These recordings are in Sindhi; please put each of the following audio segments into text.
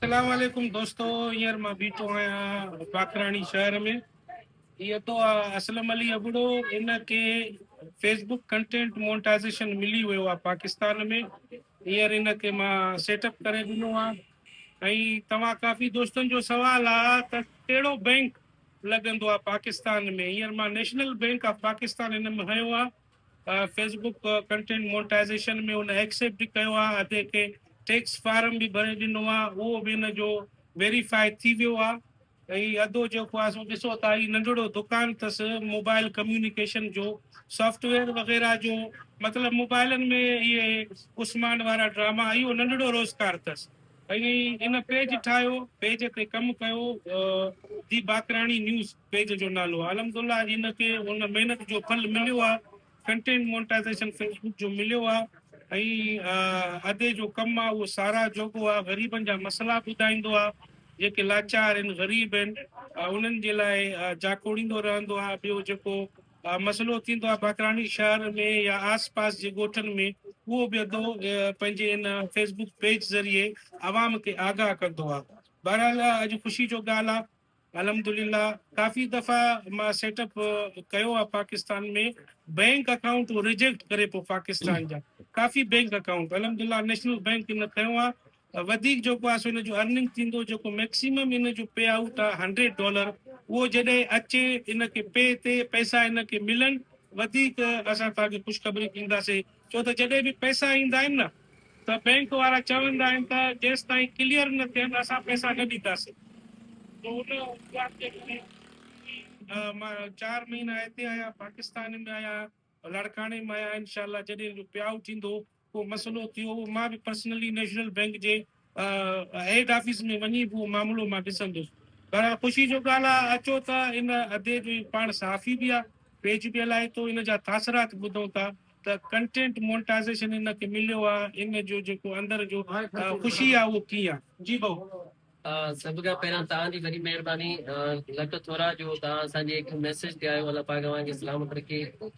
اسلام عليڪم دوستو هينئر مان بيٺو آهيان باقراڻي شهر ۾ هي اتو آ اسلم علي ابڙو ان کي فيس بڪ ڪنٽينٽ مونٽائزيشن ملي ويو آ پاڪستان ۾ هينئر ان کي مان سيٽ اپ ڪري ڏنو آ ۽ توهان ڪافي دوستن جو سوال آ ته ڪهڙو بينڪ لڳندو آ پاڪستان ۾ هينئر مان نيشنل بينڪ آف پاڪستان هن ۾ هنيو آ فيس بوڪ ڪنٽينٽ مونٽائزيشن ۾ هن ايڪسيپٽ به ڪيو آهي ۽ هتي ڪي ٽيڪس فارم به ڀري ڏنو آهي اهو به هن جو ويريفائي ٿي ويو آهي ۽ هي ادو جيڪو آهي سو ڏسو ته هي ننڍڙو دڪان اٿس موبائل ڪميونيڪيشن جو سافٽ ويئر وغيرها جو مطلب موبائلن ۾ اهي عثمان وارا ڊراما اهو ننڍڙو روزگار اٿس ۽ ان پيج ٺاهيو پيج تي ڪم ڪيو دي باقراڻي نيوز پيج جو نالو الحمدالله ان کي ان محنت جو ڦل مليو آ ڪنٽينٽ مونٽائزيشن فيس بوڪ جو مليو آ ۽ ادي جو ڪم آ اهو ساراهه جوڳو آ غريبن جا مسئلا ٻڌائيندو آ جيڪي لاچار ان غريب ان انهن جي لاء جاکوڙيندو رهندو آ ٻيو جيڪو مسئلو ٿيندو آ باقراڻي شهر ۾ يا آس پاس جي ڳوٺن ۾ اهو به ادو پنهنجي ان فيس بوڪ پيج ذريعي عوام کي آگاهه ڪندو آ بهرحال اڄ خوشي جو ڳالهه آ الحمدلله ڪافي دفعا مان سيٽ اپ ڪيو آ پاڪستان ۾ بينڪ اڪائونٽ ريجيڪٽ ڪري پيو پاڪستان جا ڪافي بينڪ اڪائونٽ الحمدلله نيشنل بينڪ ان کنيو آ وڌيڪ جيڪو آ سو ان جو ارننگ ٿيندو جيڪو ميڪسيمم ان جو پي آئوٽ آ هنڊريڊ ڊالر اهو جڏهن اچي ان کي پي تي پئسا ان کي ملن وڌيڪ اسان توهان کي خوشخبري ڏينداسين ڇو ته جڏهن به پئسا ايندا آهن نه ته بئنڪ وارا چوندا آهن ته جيستائين ڪليئر نه ٿين اسان پئسا نه ڏينداسين ته ان ڳالهه جي ڪري مان چار مهينا هتي آهيان پاڪستان ۾ آهيان لاڙڪاڻي مان آهيان انشاء الله جڏهن به پياء ٿيندو ڪو مسئلو ٿيو مان به پرسنلي نيشنل بئنڪ جي هيڊ آفيس ۾ وڃي به اهو معاملو مان ڏسندس. بهرحال خوشي جو ڳالهه آهي اچو ته ان ادي جو هي پاڻ صحافي به آهي، پيج به هلائي ٿو، ان جا تاثرات ٻڌون ٿا ته ڪنٽينٽ مونٽائزيشن هن کي مليو آهي، ان جو جيڪو اندر جو خوشي آهي اهو ڪيئن آهي. جي ڀائو. سڀ کان پهريان توهان جي وڏي مهرباني لک ٿورا جو توهان اسان جي هڪ ميسيج تي آيو الله پاڪ اوهان کي سلامت رکي.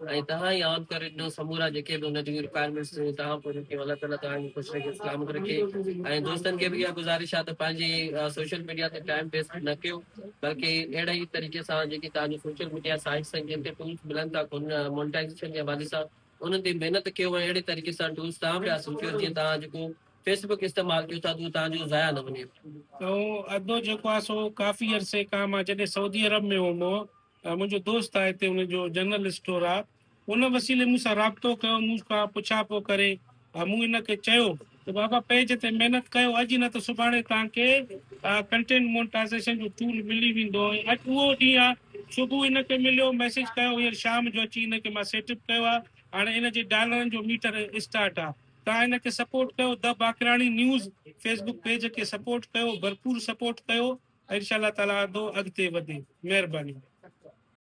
۽ تهان ئي آن ڪري ڏنو سمورا جيڪي به ان جون رڪوائرمينٽس هيون تهان پوريون ڪيون الله تعالي تهان کي خوش رکي سلامت رکي ۽ دوستن کي به اها گذارش آهي ته پنهنجي سوشل ميڊيا تي ٽائيم ويسٽ نه ڪيو بلڪه اهڙي ئي طريقي سان جيڪي تهان جون سوشل ميڊيا سائيٽس آهن جن تي ٽولس ملن ٿا ان مونٽائزيشن جي حوالي سان انهن تي محنت ڪيو ۽ اهڙي طريقي سان ٽولس تهان به حاصل ڪيو جيئن تهان جيڪو فيسبوڪ استعمال ڪيو ٿا اهو تهان جو ضايع نه وڃي ادو جيڪو آهي سو ڪافي عرصي کان مان جڏهن سعودي عرب ۾ هوم منهنجو دوست آهي هتي ان جو جنرل اسٽور آهي ان وسيلي مون سان رابطو ڪيو مون کان پڇا پو ڪري مون ان کي چيو ته بابا پيج تي محنت ڪيو اڄ نه ته سڀاڻي توهان کي ڪنٽينٽ مونٽائزيشن جو ٽول ملي ويندو ۽ اڄ اهو ڏينهن آهي صبح ان کي مليو ميسج ڪيو هينئر شام جو اچي ان کي مان سيٽ اپ ڪيو آهي هاڻي ان جي ڊالرن جو ميٽر اسٽارٽ آهي تان هن کي سپورٽ ڪيو ده باقراڻي نيوز فيسبوڪ پيج کي سپورٽ ڪيو ڀرپور سپورٽ ڪيو انشاء الله تعالي ادو اڳتي وڌي مهرباني.